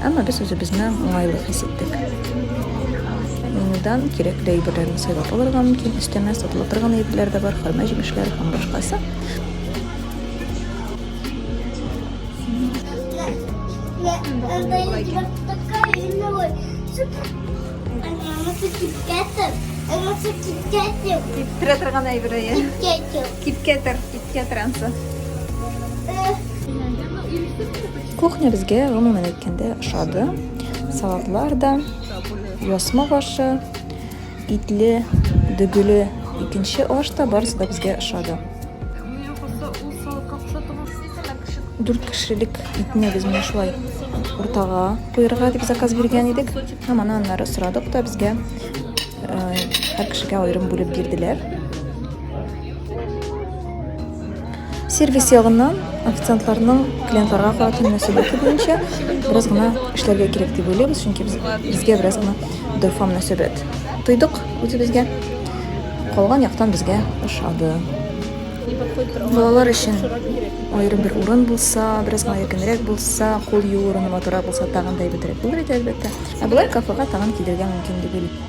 Әмма без үзебезне уңайлы хис иттек. Менюдан кирәкле әйберләрне сайлап алырга мөмкин, өстәмә сатыла торган әйберләр дә бар, хөрмә җимешләре һәм башкасы. Киптерә торган әйбере. Кипкәтер, кипкәтер ансы. Кухня безгә гомумән әйткәндә ошады. Салатлар да, ясма башы, итле, дөгеле икенче аш та барысы да безгә ошады. Дүрт кешелек итне без менә шулай уртага куярга дип заказ биргән идек. Һәм аны аннары сорадык та безгә һәр кешегә аерым бүлеп бирделәр. Сервис ягыннан официантларның клиентларга карата мөнәсәбәте буенча бераз гына эшләргә кирәк дип уйлыйбыз, чөнки без, безгә бераз гына дөрфа мөнәсәбәт тойдык үзебезгә. Калган яктан безгә ошады. Балалар өчен аерым бер урын булса, бераз гына якынрәк булса, кул юу урыны матурак булса, тагын да әйбәтрәк булыр иде, әлбәттә. Ә болай кафега тагын килергә мөмкин дип уйлыйм.